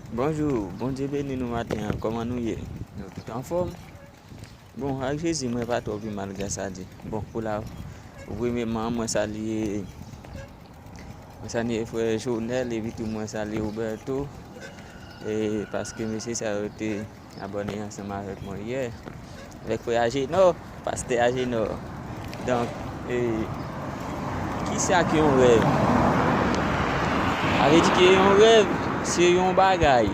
Bonjou bondye beni nou maten an kòman nou ye nou tout anfòm bon ak jezi mwen pa twò pi mal grasa di bon pou la premyeman mwen salye mwen salye frè jounel epi tou mwen salye ouberto e paske mesye sa yo te Abòne ansanm avèk mwen yeah. Avèk frè Ajenò, pastè Ajenò. Donk, e, kisa ke yon rèv? Avè di ke yon rèv, se yon bagay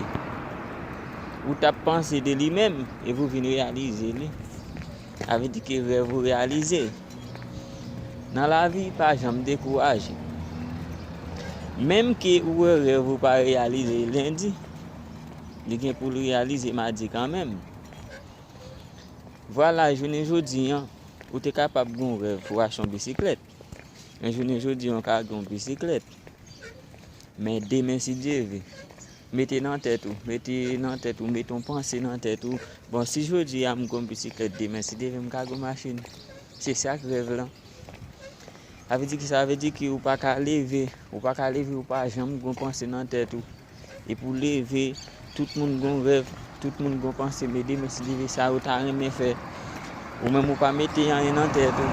ou tap panse de li menm, e pou vin reyalize li. Avè di ke rèv ou reyalize. Nan la vi, pa janm dekouraje. Menm ke ou wè rèv ou pa reyalize lendi, li gen pou l reyalize madi kanmenm. Vwala jounen jodi an, ou te kapab gen yon rèv pou achte yon bisiklèt. Men jounen jodi an, ou ka gen yon bisiklèt. Men demen si Dye vle, mete nan tèt ou, mete nan tèt ou, mete yon panse nan tèt ou, bon si jodi a m gen yon bisiklèt, demen si Dye vle m ka gen yon machin. Se sa k rèv lan. Sa vle di ki sa vle di ki ou pa ka leve, ou pa ka leve ou pa janm gon panse nan tèt ou. E pou leve, tout moun gon rèv, tout moun gon panse mede men si leve sa ou ta renmen fè. Ou menm ou pa mete anyen nan tèt ou.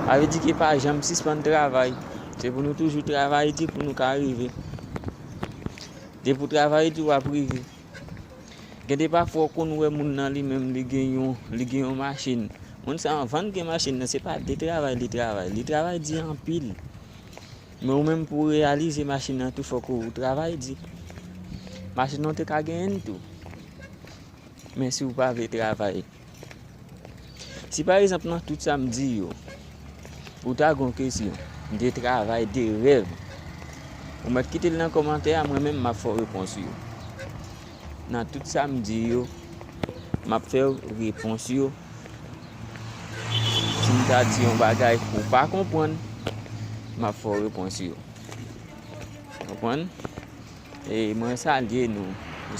Sa vle di ki pa janm sispann travay. Se pou nou toujou travay di pou nou ka rive. De pou travay di ou ap rive. Gen de pafwa ou konn wè moun nan li menm li gen yon li gen yon machin. Moun sa anvan gen machin nan se pa de travay li travay. Li travay di anpil. Men ou menm pou reyalize machin nan tou fòk ou travay di. Machin nan te ka genyen tou. Men si ou pa vle travay. Si pa egzanp nan tout sa m di yo, ou ta gon kesyon, m te travay de rèv, ou mèt kite l nan kòmantè a, mwen menm m ap fè w repons yo. Nan tout sa m di yo, m ap fè w repons yo. Si m ta di yon bagay ou pa konpwann, m ap fè w repons yo. Konpwann? Mwen salye nou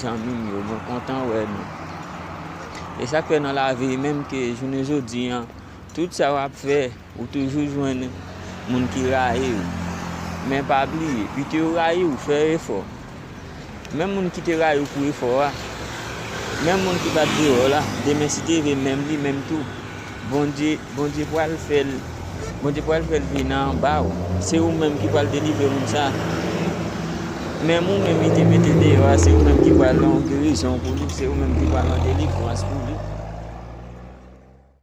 zanmim yo mwen kontan wè nou e sak fè nan lavi menm ke jounen jodi an tout sa wap fè ou toujou jwenn moun ki rayiw men pa bliye pito yo rayiw fè efò menm moun ki te rayiw pou efò a menm moun ki pat vle wèw la demen si te vle menm li menm tou Bondye Bondye pral fèl Bondye pral fèl vini anbaw se ou menm ki pral delivre moun sa menm ou menm li te mete deyò a se ou menm ki pral yon gerizon pou li se ou menm ki pral yon delivrans pou li.